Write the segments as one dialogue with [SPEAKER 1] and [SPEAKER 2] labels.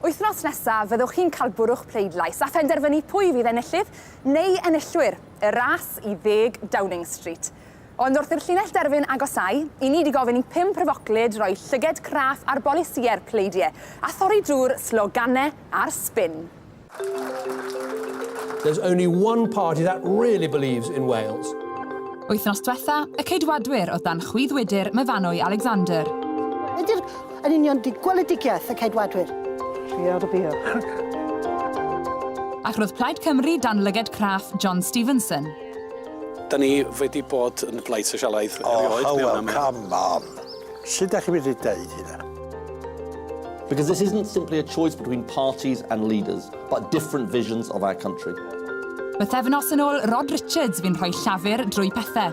[SPEAKER 1] Wythnos nesaf, fyddwch chi'n cael bwrw'ch pleidlais a phenderfynu pwy fydd enillydd neu enillwyr y ras i ddeg Downing Street. Ond wrth i'r llinell derfyn agosau, i ni di gofyn i pum pryfoclyd roi llyged craff ar bolisïau'r pleidie a thorri drwy'r sloganau a'r sbin.
[SPEAKER 2] There's only one party that really believes in Wales. Wythnos
[SPEAKER 1] diwetha, y Ceidwadwyr oedd dan chwyddwydr Myfanwy Alexander. Ydy'r
[SPEAKER 3] yn union di gweledigiaeth y Ceidwadwyr? Trio dy bio.
[SPEAKER 1] Ac roedd Plaid Cymru dan lyged craff John Stevenson. Da
[SPEAKER 4] ni wedi bod yn Blaid Sosialaidd erioed. Oh, how well, come
[SPEAKER 5] on. Sut dach chi'n medru deud hynna?
[SPEAKER 6] Because this isn't simply a choice between parties and leaders, but different visions of our country. Bythefnos
[SPEAKER 1] yn ôl Rod Richards fi'n rhoi llafur drwy pethau.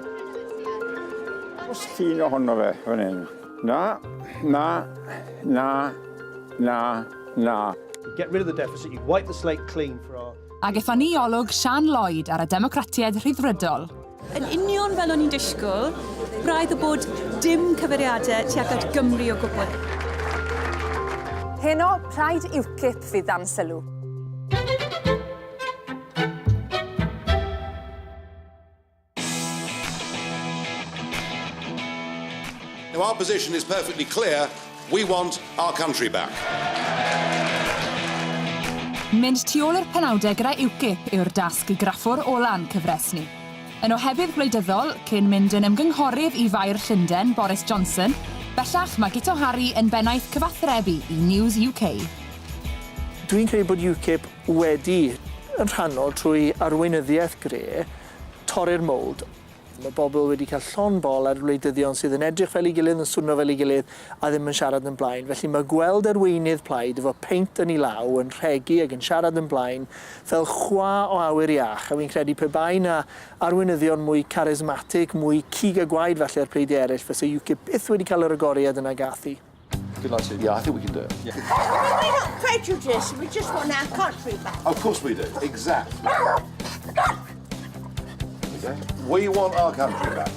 [SPEAKER 7] Os llun ohono fe fan hyn. Na, na, na, na,
[SPEAKER 2] na. Get rid of the deficit, you wipe the slate clean for our... Ag ethon ni olwg
[SPEAKER 1] Siân Lloyd ar y Democratiaid Rhyddfrydol. Yn union
[SPEAKER 8] fel o'n i'n disgwyl, braidd y bod dim cyfeiriadau tuag at Gymru o gwbl. Heno,
[SPEAKER 1] plaid UKIP fydd dan sylw.
[SPEAKER 9] Now our position is perfectly clear We want our country back.
[SPEAKER 1] Mynd tu ôl i'r penawdau gyda UKIP yw'r dasg i graffwr ola'n cyfres ni. Yn ohebydd gwleidyddol, cyn mynd yn ymgynghorydd i Faer Llunden, Boris Johnson, bellach mae Guto Harri yn bennaeth cyfathrebu i News UK.
[SPEAKER 10] Dwi'n credu bod UKIP wedi, yn rhannol trwy arweinyddiaeth Gray, torri'r mould. Mae pobl wedi cael llond bol ar wleidyddion sydd yn edrych fel ei gilydd, yn swno fel ei gilydd a ddim yn siarad yn blaen. Felly mae gweld arweinydd plaid efo peint yn ei law yn rhegi ac yn siarad yn blaen fel chwa o awyr iach a fi'n credu pe bai 'na arweinyddion mwy carismatic, mwy cig a gwaed falle ar pleidiau eraill fyse UKIP byth wedi cael yr agoriad yna gath hi. Good luck to you.
[SPEAKER 6] Yeah, I think we can do it. Yeah. We're not
[SPEAKER 3] prejudiced, we just want our country back. Of course we do,
[SPEAKER 9] exactly. We want our country back.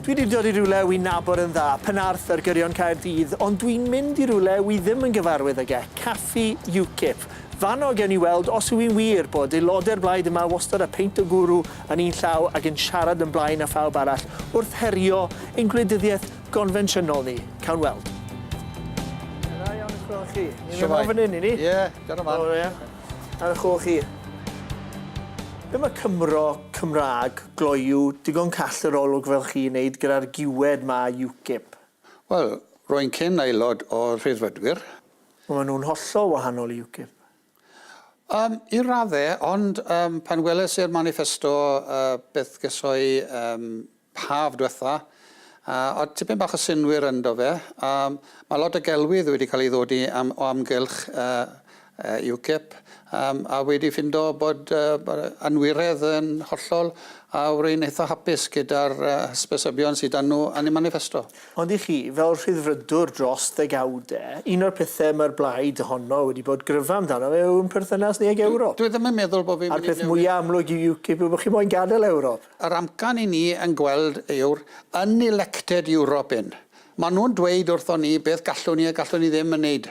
[SPEAKER 10] Dwi wedi dod i rhywle wy nabod yn dda, Penarth ar gyrion Caerdydd, ond dwi'n mynd i rhywle wy ddim yn gyfarwydd ag e, Caffi UKIP. Fanno gen i weld os yw'n wir bod aelodau'r blaid yma wastad a peint o gwrw yn un llaw ac yn siarad yn blaen a phawb arall wrth herio ein gwleidyddiaeth gonfensiynol ni. Cawn weld. Da iawn eich gweld chi. Ni'n mynd nôl fan hyn, i ni? Ie, dyna man. O ie.
[SPEAKER 5] Ar
[SPEAKER 10] eich ôl chi. Be mae Cymro, Cymraeg, gloyw, digon call yr olwg fel chi i wneud gyda'r giwed ma UKIP? Wel,
[SPEAKER 7] rwy'n cyn aelod o'r Rhyddfrydwyr. Wel, maen nhw'n
[SPEAKER 10] hollol wahanol i UKIP. Yym,
[SPEAKER 7] i radde, ond yym pan weles i'r maniffesto yy beth geso'i yym haf dwetha, a o'dd tipyn bach o synnwyr ynddo fe. Yym ma' lot o gelwydd wedi ca'l 'i ddodi am o amgylch yy yy UKIP yym a wedi ffindo bod yy bod y anwiredd yn hollol a rwy'n eitha hapus gyda'r yy hysbysebion sy 'dan nw yn y maniffesto. Ond i chi, fel
[SPEAKER 10] Rhyddfrydwr dros ddegawde, un o'r pethe mae'r Blaid ohono wedi bod gryfa amdano fe yw ein perthynas ni ag Ewrop. Dwi ddim yn meddwl bod fi'n mynd i newid.
[SPEAKER 7] A'r peth mwya' amlwg i
[SPEAKER 10] UKIP yw bod chi moyn gadael Ewrop. Yr amcan i ni
[SPEAKER 7] yn gweld yw'r unelected European. Maen nhw'n dweud wrthon ni beth gallwn ni a gallwn ni ddim yn wneud.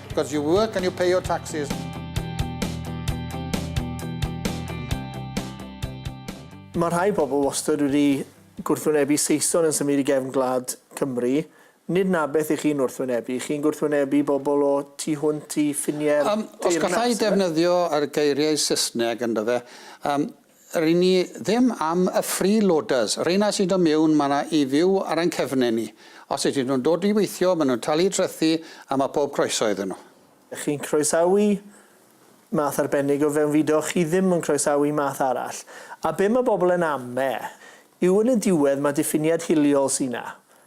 [SPEAKER 7] Because you work and you pay your taxes.
[SPEAKER 10] Mae rhai pobl wastad wedi gwrthwynebu Saeson yn symud i gefn gwlad Cymru. Nid 'na beth i chi'n wrthwynebu. Chi'n gwrthwynebu bobl o tu hwnt i ffiniau'r deyrnas, ife? Os gallai defnyddio
[SPEAKER 7] yr geiriau Saesneg, yndyfe, Ry'n ni ddim am y free loaders, rheina sy'n dod miwn ma na i fyw ar ein cefnau ni. Os ydyn nhw'n dod i weithio, maen nhw'n talu trethi a mae pob croeso iddyn nhw. Ydych chi'n croesawu
[SPEAKER 10] math arbennig o fewnfudo, chi ddim yn croesawu math arall. A be mae bobl yn am e yw yn y diwedd mae diffiniad hiliol sy 'na.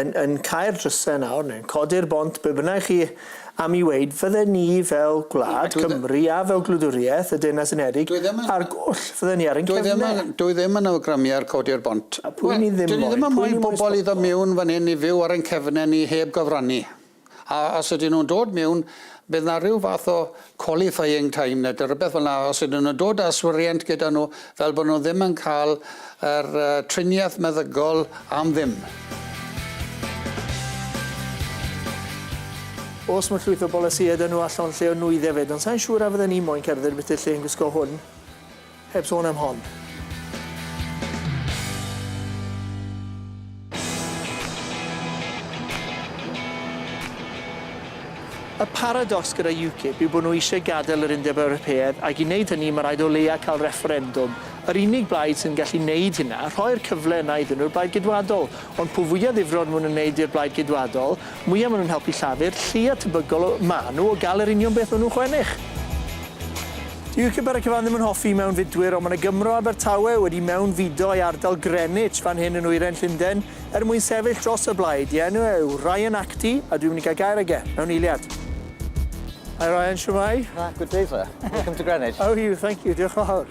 [SPEAKER 10] yn yn cau'r drysau nawr neu'n codi'r bont, be bynnag chi am i weud, fydden ni fel gwlad, Cymru a fel gwladwriaeth y Deyrnas Unedig ar goll, fydden ni ar ein cefnau. Dwi ddim yn awgrymu
[SPEAKER 7] ar codi'r bont. A pwy ni ddim moyn? Dyn ni ddim
[SPEAKER 10] yn moyn pobl
[SPEAKER 7] i ddod miwn fan hyn i fyw ar ein cefnau ni heb gyfrannu. A os ydyn nhw'n dod mewn, bydd 'na ryw fath o qualifying time ne' dy rywbeth fel 'na os ydyn nhw'n dod â swriant gyda nhw fel bo' nhw ddim yn ca'l yr yy triniaeth meddygol am ddim.
[SPEAKER 10] Os ma' llwyth o bolisïe 'da nhw a llond lle o nwydde 'fyd, ond sai'n siŵr a fydden i moyn cerdded ambyti lle yn gwisgo hwn. Heb sôn am hon. Y paradocs gyda UKIP yw bod nhw eisiau gadael yr Undeb Ewropeaidd ac i wneud hynny mae rhaid o leia cael refferendwm. Yr unig blaid sy'n gallu wneud hynna, rhoi'r cyfle yna iddyn nhw yw'r Blaid Geidwadol. Ond pwy fwya ddifrod mwyn yn wneud i'r Blaid Geidwadol, mwya maen nhw'n helpu Llafur, lleia tebygol o maen nhw o gael yr union beth maen nhw'n chwennych. Dyw UKIP ar y cyfan ddim yn hoffi mewnfudwyr ond mae 'na Gymro Abertawe wedi mewnfudo i ardal Greenwich fan hyn yn nwyrain Llunden er mwyn sefyll dros y Blaid, i enw e yw Ryan Acty a dwi'n mynd i gael gair ag e, mewn eiliad. Hi Ryan, shwmae? Ah, good day sir. Welcome
[SPEAKER 11] to Greenwich. How are you? Thank you, diolch
[SPEAKER 10] yn fawr.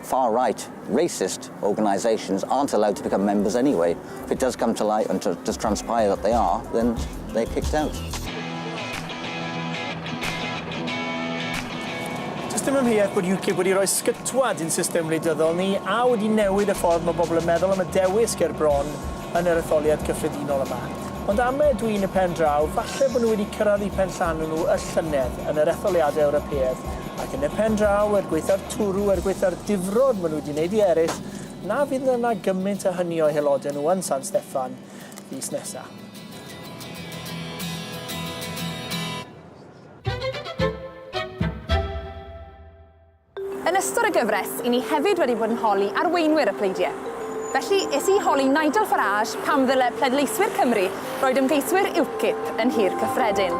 [SPEAKER 11] far right, racist organisations aren't allowed to become members anyway. If it does come to light and does transpire that they are, then they're kicked out.
[SPEAKER 10] Does dim amheuaeth bod UKIP wedi rhoi sgytwad i'n system wleidyddol ni a wedi newid y ffordd mae bobl yn meddwl am y dewis ger bron yn yr etholiad cyffredinol yma. Ond am ydw i yn y pen draw, falle bod nhw wedi cyrraedd eu penllanw nhw y llynedd yn yr etholiadau Ewropeaidd, ac yn y pen draw, er gwaethaf twrw er gwaetha'r difrod maen nhw wedi wneud i eraill, na fydd yna gymaint a hynny o'u haelodau nhw yn San Steffan fis nesaf.
[SPEAKER 1] Yn ystod y gyfres, i ni hefyd wedi bod yn holi arweinwyr y pleidiau. Felly, es i holi Nigel Farage pam ddyle pleidleiswyr Cymru roed ymgeiswyr UKIP yn nhir cyffredin.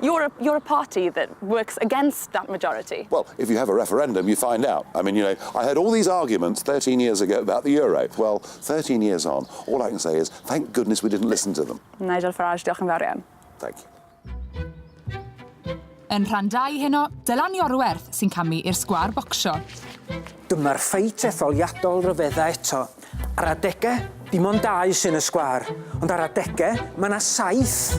[SPEAKER 1] You're a, you're a party that works against that majority. Well, if you have a referendum,
[SPEAKER 12] you find out. I mean, you know, I heard all these arguments 13 years ago about the euro. Well, 13 years on, all I can say is, thank goodness we didn't listen to them. Nigel Farage, diolch yn
[SPEAKER 1] fawr iawn. Thank you.
[SPEAKER 12] Yn rhan
[SPEAKER 13] 2 heno, Dylan Iorwerth sy'n camu i'r sgwar bocsio. Dyma'r
[SPEAKER 14] ffeit etholiadol ryfedda eto. Ar adegau, dim ond dau sy'n y sgwâr, ond ar adegau, mae yna saith!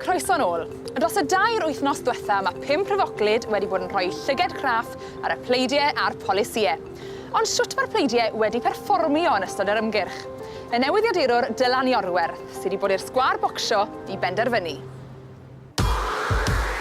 [SPEAKER 1] Croeso yn ôl. Dros y dair wythnos dwetha mae pum pryfoglyd wedi bod yn rhoi llyged craff ar y pleidiau a'r polisïau. Ond shwt mae'r pleidiau wedi perfformio yn ystod yr ymgyrch? Y newyddiadurwr Dylan Iorwerth sy 'di bod i'r sgwâr bocsio i benderfynu.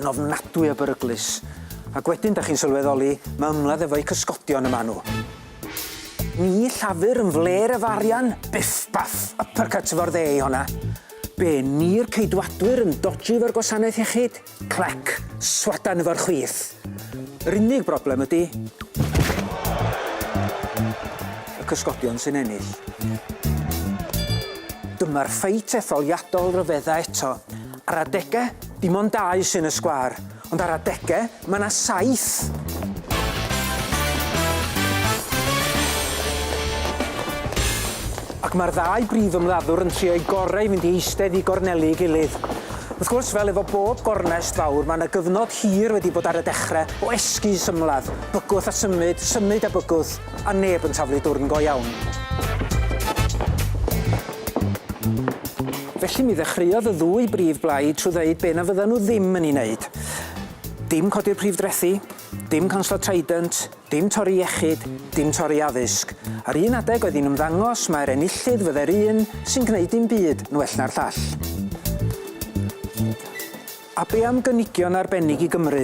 [SPEAKER 14] Yn ofnadwy o beryglus. Ac wedyn 'dach chi'n sylweddoli ma' ymladd efo'u cysgodion y ma' nhw. Ni Llafur yn flêr efo arian! Biff baff! Uppercut efo'r dde i honna. Be, ni'r Ceidwadwyr yn dodgy efo'r gwasanaeth iechyd? Clac! Swadan efo'r chwith! Yr unig broblem ydi, y cysgodion sy'n ennill. Dyma'r ffeit etholiadol ryfedda eto. Ar adege, dim ond dau sy'n y sgwâr, ond ar adege, mae 'na saith! Ac mae'r ddau brif ymladdwr yn trio'u gorau i fynd i eistedd i gornelu ei gilydd. Wrth gwrs, fel efo bob gornest fawr, mae 'na gyfnod hir wedi bod ar y dechre o esgus ymladd, bygwth a symud, symud a bygwth. a neb yn taflu dwrn go iawn. Felly mi ddechreuodd y ddwy brif blaid trwy ddeud be na fyddan nhw ddim yn ei wneud. Dim codi'r prif drethi, dim canslo Trident, dim torri iechyd, dim torri addysg. Ar un adeg oedd hi'n ymddangos mai'r enillydd fyddai'r un sy'n gwneud dim byd yn well na'r llall. A be am gynigion arbennig i Gymru?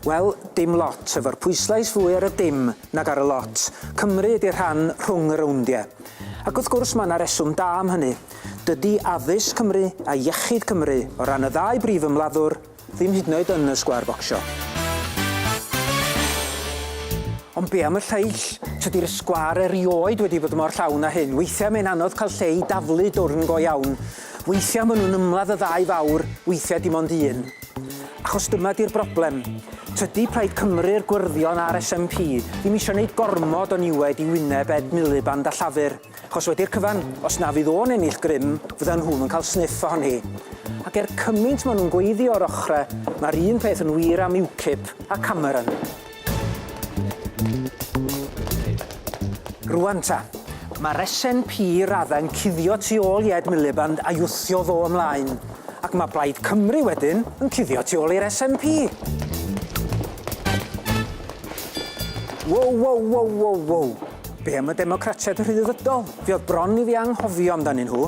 [SPEAKER 14] Wel, dim lot, efo'r pwyslais fwy ar y dim nag ar y lot. Cymru ydi'r rhan rhwng y rowndiau. Ac wrth gwrs, mae yna reswm da am hynny. Dydi addysg Cymru a iechyd Cymru, o ran y ddau brif ymladdwr, ddim hyd yn oed yn y sgwâr focsio. Ond be am y lleill? Tydi'r sgwâr erioed wedi bod mor llawn â hyn. Weithiau mae'n anodd cael lle i daflu dwrn go iawn. Weithiau maen nhw'n ymladd y ddau fawr, weithiau dim ond un. Achos dyma 'di'r broblem, tydi Plaid Cymru'r Gwyrddion a'r SNP ddim eisiau neud gormod o niwed i wyneb Ed Miliband a Llafur, achos wedi'r cyfan, os na fydd o'n ennill grym, fyddan nhw'm yn cael sniff ohoni. Ac er cymynt maen nhw'n gweiddi o'r ochre, mae'r un peth yn wir am UKIP a Cameron. Rŵan ta, ma' resen pi radda yn cuddio tu ôl i Ed Miliband a'i wthio fo ymlaen, ac ma' Plaid Cymru wedyn yn cuddio tu ôl i'r SNP. Wow wow wow wow wow! Be am y Democratiaid rhyddfrydol? Fe o'dd bron i fi anghofio amdanyn nhw.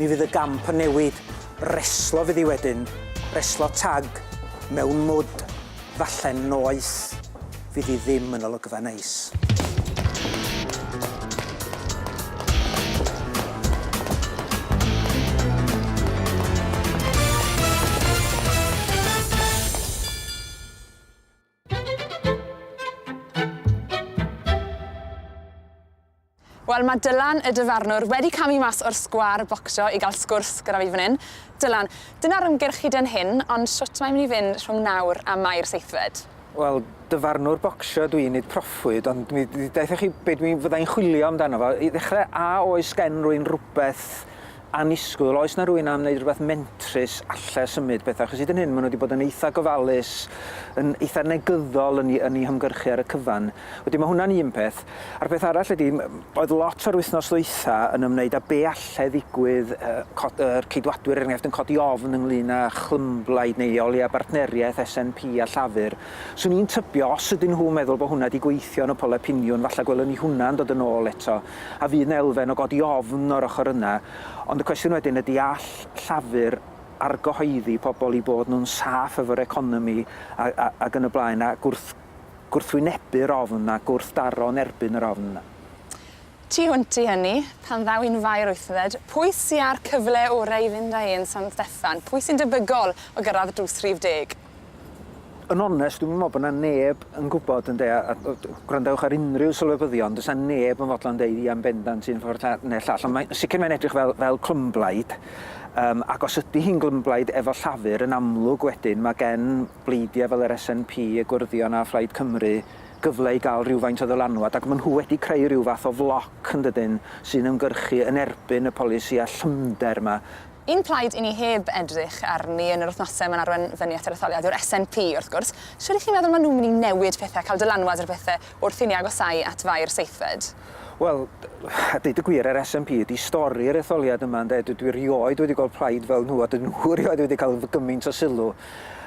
[SPEAKER 14] Mi fydd y gamp yn newid, reslo fydd hi wedyn, reslo tag, mewn mwd, falle noeth, fydd hi ddim yn olygfa neis.
[SPEAKER 1] Wel, mae Dylan, y dyfarnwr, wedi camu mas o'r sgwâr bocsio i gael sgwrs gyda fi fan hyn. Dylan, dyna'r ymgyrch hyd yn hyn, ond shwt mae'n mynd i fynd rhwng nawr a Mai'r seithfed? Wel,
[SPEAKER 14] dyfarnwr bocsio dw i, nid proffwyd, ond mi ddaethoch chi be dwi fyddai'n chwilio amdano fo. I ddechrau, a oes gen rwy'n rhywbeth annisgwyl, oes 'na rywun am wneud rhywbeth mentrus alle symud pethau, achos hyd yn hyn maen nhw wedi bod yn eitha' gofalus, yn eitha' negyddol yn yn eu hymgyrchu ar y cyfan. Wedyn mae hwnna'n un peth. A'r peth arall ydy, oedd lot o'r wythnos ddwytha' yn ymwneud â be' alle ddigwydd, yy yr Ceidwadwyr er enghraifft yn codi ofn ynglŷn â chlymblaid neu o leia' bartneriaeth SNP a Llafur. 'Swn i'n tybio os ydyn nhw'n meddwl bod hwnna 'di gweithio yn y polau piniwn falle gwelwn ni hwnna'n dod yn ôl eto. A fydd 'na elfen o godi ofn o'r ochr yna? Ond y cwestiwn wedyn ydy all Llafur argyhoeddi pobl i bod nhw'n saff efo'r economi a, a, ag yn y blaen, a gwrth, gwrthwynebu'r ofn a gwrthdaro yn erbyn yr ofn yna? Tu
[SPEAKER 1] hwnt i hynny, pan ddaw un faer wythfed, pwy sy' â'r cyfle orau i fynd â e yn San Steffan? Pwy sy'n debygol o gyrraedd drws rhif deg? yn
[SPEAKER 14] onest, dwi'm yn meddwl bod yna neb yn gwybod, ynde, a, a gwrandewch ar unrhyw sylwebyddion, does yna neb yn fodlon deud ia'n bendant un ffordd neu'r llall, ond mae, sicr mae'n edrych fel, fel clymblaid, um, ac os ydy hi'n glymblaid efo llafur, yn amlwg wedyn mae gen bleidiau fel yr SNP, y Gwrddion a Phlaid Cymru gyfle i gael rhywfaint o ddylanwad, ac maen nhw wedi creu rhyw fath o floc yn dydyn sy'n ymgyrchu yn erbyn y polisi a llymder yma. Un
[SPEAKER 1] plaid i ni heb edrych arni yn yr wythnose 'ma'n arwen fyny at yr etholiad yw'r SNP, wrth gwrs. Shwd 'ych chi'n meddwl ma' nhw'n mynd i newid pethe, cael dylanwad ar bethe wrth i ni agosáu at fai'r seithfed? Wel,
[SPEAKER 14] a deud y gwir, yr SNP ydi stori'r etholiad yma, ynde? Dw- dwi erioed wedi gweld plaid fel nhw, a dydyn nhw erioed wedi cael gymaint o sylw.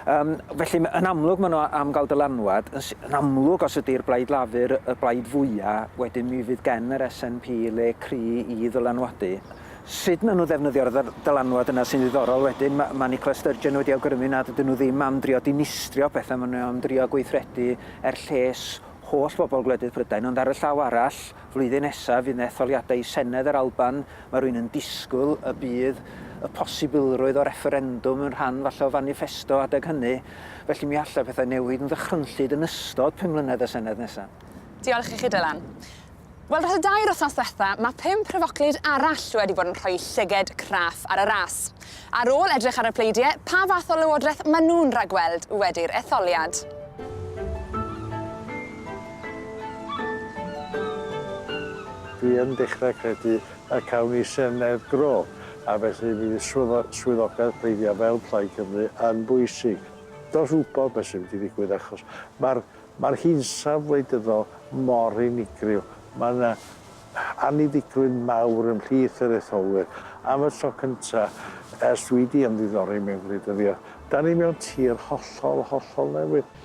[SPEAKER 14] Yym, felly, yn amlwg maen nhw am gael dylanwad. Yn yn amlwg, os ydi'r Blaid Lafur y blaid fwya', wedyn mi fydd gen yr SNP le cry' i ddylanwadu. sut maen nhw'n ddefnyddio'r dylanwad yna sy'n ddiddorol wedyn. Mae, mae Nicola Sturgeon wedi awgrymu nad ydyn nhw ddim am drio dinistrio pethau, maen nhw am drio gweithredu er lles holl bobl gwledydd Prydain, ond ar y llaw arall, flwyddyn nesaf fydd yna etholiadau i Senedd yr Alban, mae rhywun yn disgwyl y bydd y posibilrwydd o refferendwm yn rhan falle o faniffesto adeg hynny, felly mi allai pethau newid yn ddychrynllyd yn ystod pum mlynedd y Senedd nesaf. Diolch i chi, Dylan.
[SPEAKER 1] Wel, dros y dair wythnos ddiwetha, mae pum pryfoclyd arall wedi bod yn rhoi llyged craff ar y ras. Ar ôl edrych ar y pleidiau, pa fath o lywodraeth maen nhw'n rhagweld wedi'r etholiad?
[SPEAKER 5] Dwi yn dechrau credu y cawn ni Senedd Gro, a felly mi fydd swyddogaeth pleidiau fel Plaid Cymru yn bwysig. Does wybod beth sy'n mynd i ddigwydd achos mae'r Mae'r hinsawdd wleidyddol mor unigryw, mae yna anniddigrwydd mawr ymhlith yr etholwyr. Am y tro cyntaf ers dwi wedi ymddiddori mewn gwleidyddiaeth, dan ni mewn tir hollol, hollol newydd.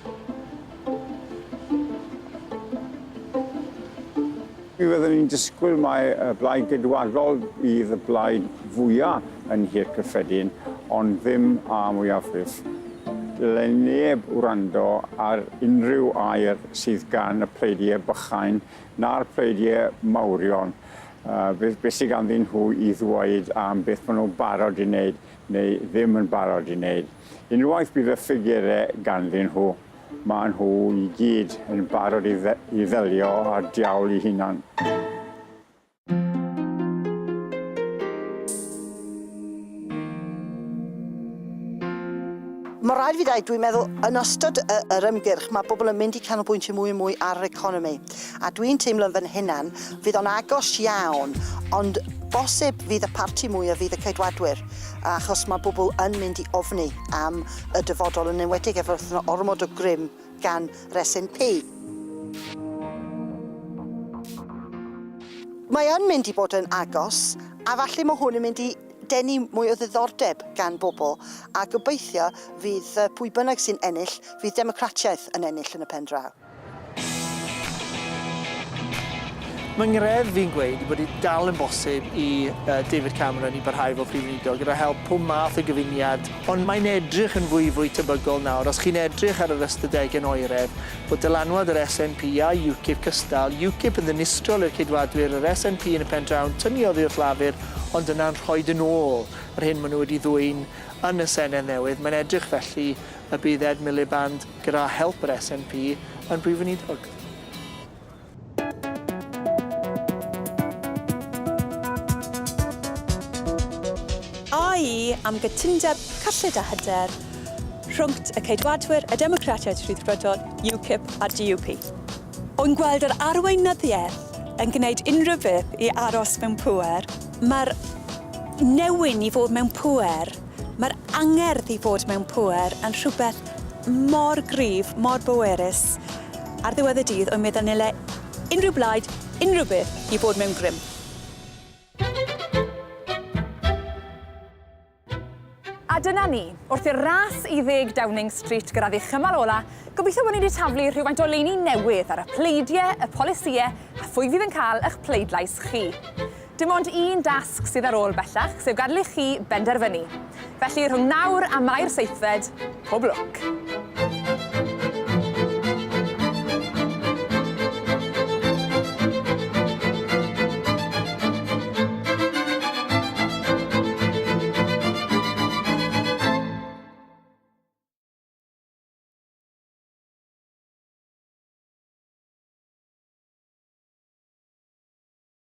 [SPEAKER 15] Mi fyddwn ni'n disgwyl mai y Blaid Geidwadol fydd y blaid fwyaf yn Nhŷ'r Cyffredin, ond ddim â mwyafrif. Dyle neb wrando ar unrhyw air sydd gan y pleidiau bychain na'r pleidiau mawrion, beth beth sydd ganddyn nhw i ddweud am beth maen nhw'n barod i wneud neu ddim yn barod i wneud. Unwaith bydd y ffigurau ganddyn nhw, Maen nhw i gyd yn barod i ddelio â'r diawl i hunan.
[SPEAKER 3] Mae rhaid i fi ddweud, dwi'n meddwl, yn ystod y, yr ymgyrch, mae bobl yn mynd i canolbwyntio mwy a mwy ar yr economi. A dwi'n teimlo'n fy hunan, fydd o'n agos iawn, ond bosib fydd y parti mwy a fydd y ceidwadwyr, achos mae bobl yn mynd i ofni am y dyfodol, yn enwedig efo yna ormod o grym gan yr SNP. Mae yn mynd i bod yn agos, a falle mae hwn yn mynd i denu mwy o ddiddordeb gan bobl, a gobeithio fydd pwy bynnag sy'n ennill, fydd democratiaeth yn ennill yn y pen draw.
[SPEAKER 10] Mae ngwredd fi'n gweud bod e dal yn bosib i David Cameron i barhau fel Prif Weinidog gyda help pob math o gyfuniad, ond mae'n edrych yn fwy fwy tebygol nawr, os chi'n edrych ar yr ystadegau'n oeredd, bod dylanwad yr SNP a UKIP cystal, UKIP yn ddinistriol i'r Ceidwadwyr, yr SNP yn y pen draw yn tynnu oddi wrth Lafur, ond yna'n rhoid yn ôl yr hyn maen nhw wedi ddwyn yn y Senedd newydd. Mae'n edrych felly y bydd Ed Miliband, Gyda help yr SNP yn Brif Weinidog.
[SPEAKER 8] AE am gytundeb cyllid a hyder rhwngct y Ceidwadwyr, y Democratiaid Rhyddfrydol, UKIP a'r DUP. O'n gweld yr arweinyddiaeth yn gwneud unrhyw beth i aros mewn pŵer. Mae'r newyn i fod mewn pŵer. Mae'r angerdd i fod mewn pŵer yn rhywbeth mor gryf, mor bwerus. Ar ddiwedd y dydd, wy meddwl nile unrhyw blaid, unrhyw beth, i fod mewn grym.
[SPEAKER 1] A dyna ni, wrth i'r ras i ddeg Downing Street gyrraedd ei chymal ola, gobeithio bod ni wedi taflu rhywfaint o leini newydd ar y pleidie, y polisïe, a phwy fydd yn cael ych pleidlais chi. Dim ond un dasg sydd ar ôl bellach, sef gadael i chi benderfynu. Felly, rhwng nawr a Mai'r seithfed, pob lwc!